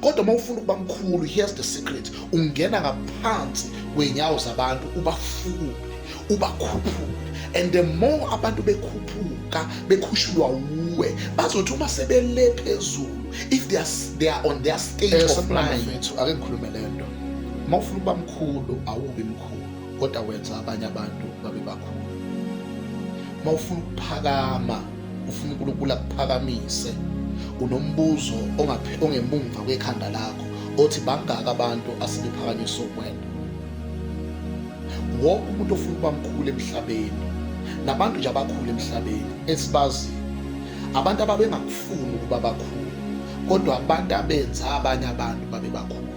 kodwa uma ufuna ukuba mkhulu here's the secret ungena ngaphansi kwenyawo zabantu ubafukule ubakhuphule and the more abantu bekhuphuka bekhushulwa wuwe bazothi uma sebele phezulu if they are, they are on their state eh, of mind ake ngikhulume le nto uma ufuna ukuba mkhulu awubi mkhulu kodwa wenza abanye abantu babe bakhulu uma ufuna ukuphakama ufuna uNkulunkulu akuphakamise unombuzo ongemumva kwekhanda lakho othi bangaka abantu asebephakanyiswa ukwena wonke umuntu ofuna ukuba mkhulu emhlabeni nabantu nje abakhulu emhlabeni esibazi abantu ababengakufuni ukuba bakhulu kodwa abantu abenza abanye abantu babe bakhulu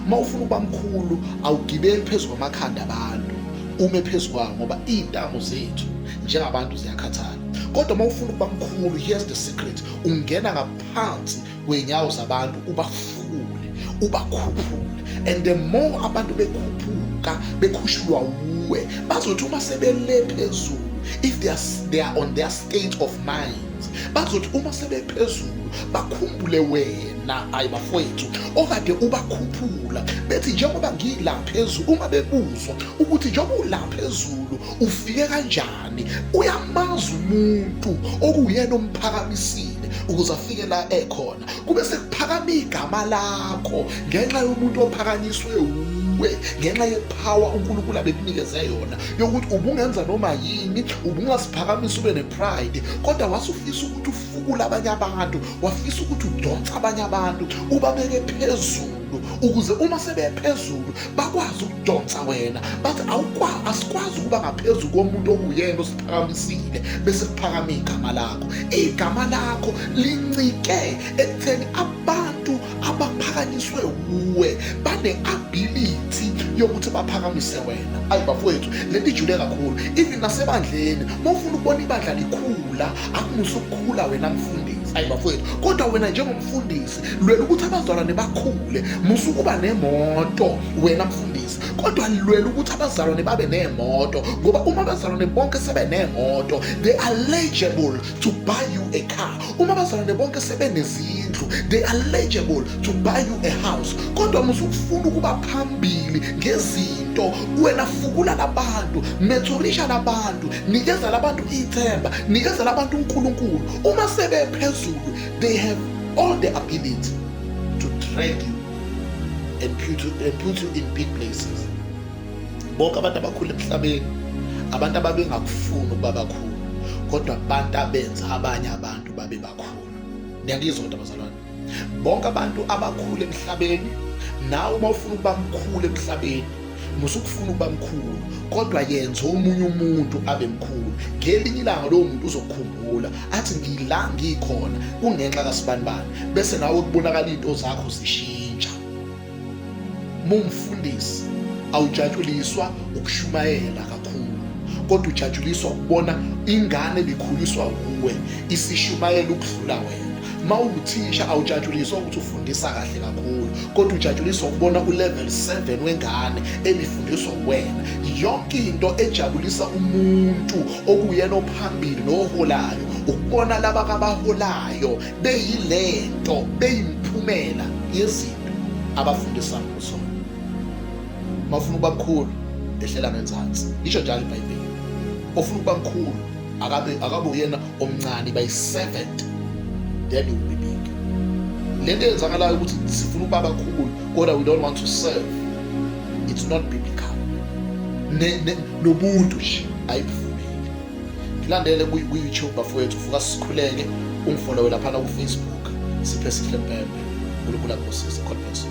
uma ufuna ukuba mkhulu awugibeli phezu kwamakhanda abantu ume phezu kwawo ngoba iy'ntamu zethu njengabantu ziyakhathala kodwa uma ufuna ukuba mkhulu here's the secret ungena ngaphansi kwey'nyawo zabantu ubafule ubakhuphule and the more abantu bekhuphuka bekhushulwa wuwe bazothi uma sebele phezulu if they are, they are on their state of mind bazothi uma sebephezulu bakhumbule wena ayi bafowethu okade ubakhuphula bethi njengoba ngila phezulu uma bebuzwa ukuthi njengoba ula phezulu ufike kanjani uyamazi umuntu okuyena omphakamisile ukuze afike la ekhona kube sekuphakama igama lakho ngenxa yomuntu ophakanyiswe wuwe kuwe ngenxa yephawa uNkulunkulu abekunikeze yona yokuthi ubungenza noma yini ubungasiphakamisa ube pride kodwa wasufisa ukuthi ufukule abanye abantu wafisa ukuthi udonse abanye abantu ubabeke phezulu ukuze uma sebephezulu bakwazi ukudonsa wena bathi awukwazi asikwazi ukuba ngaphezulu komuntu okuyena osiphakamisile bese kuphakama igama lakho igama lakho lincike ekutheni abantu abaphakanyiswe wuwe bane-ability yokuthi baphakamise wena ayi bafowethu le nto ijule kakhulu even nasebandleni uma ufuna ukubona ibandla likhula akumuse ukukhula wena mfundisi ayi bafowethu kodwa wena njengomfundisi lwela ukuthi abazalwane bakhule musa ukuba nemoto wena mfundisi kodwa lwela ukuthi abazalwane babe nemoto ngoba uma abazalwane bonke sebe nemoto they are legible to buy you a car uma bazalwane bonke sebenezindlu they are legible to buy you a house kodwa musukufuna ukuba phambili ngezinto wena fukula labantu methulisha labantu nikeza labantu ithemba nikeza labantu uNkulunkulu uma sebephezulu they have all the ability to drag you and put you, and put you in big places bonke abantu abakhulu emhlabeni abantu ababengakufuni ukuba bakhulu kodwa abantu abenza abanye abantu babe bakhulu niyangizwa kodwa bazalwane bonke abantu abakhulu emhlabeni nawe uma ufuna ukuba mkhulu emhlabeni musukufuna ukuba mkhulu kodwa yenza omunye umuntu abe mkhulu ngelinye ilanga lowo muntu uzokukhumbula athi ngila ngikhona kungenxa kasibanibani bese nawe kubonakala izinto zakho zishiya Mumfundisi awujatshuliswa ukushumayela kakhulu kodwa ujatshuliswa ukubona ingane bikhuliswa kuwe isishumayela ukudlula wena uma uwuthisha awujatshuliswa ukuthi ufundisa kahle kakhulu kodwa ujatshuliswa ukubona ulevel 7 wengane ebifundiswa uwena yonke into ejabulisa umuntu okuyena ophambili noholayo ukubona laba kabaholayo beyilento beyimphumela yezinto abafundisa ngizona uma ufuna ukuba mkhulu ehlela ngenzansi lisho njalo ibhayibheli ofuna ukuba mkhulu akabe akabe uyena omncane by 7 then you will be big lento eyenzakalayo ukuthi sifuna ukuba bakhulu kodwa we don't want to serve it's not biblical nobuntu nje ayibufuni Ndilandele kuYouTube bafowethu fuka sikhuleke ungifollowe laphana kuFacebook siphe sihle mpempe. uNkulunkulu akubusise. God bless you.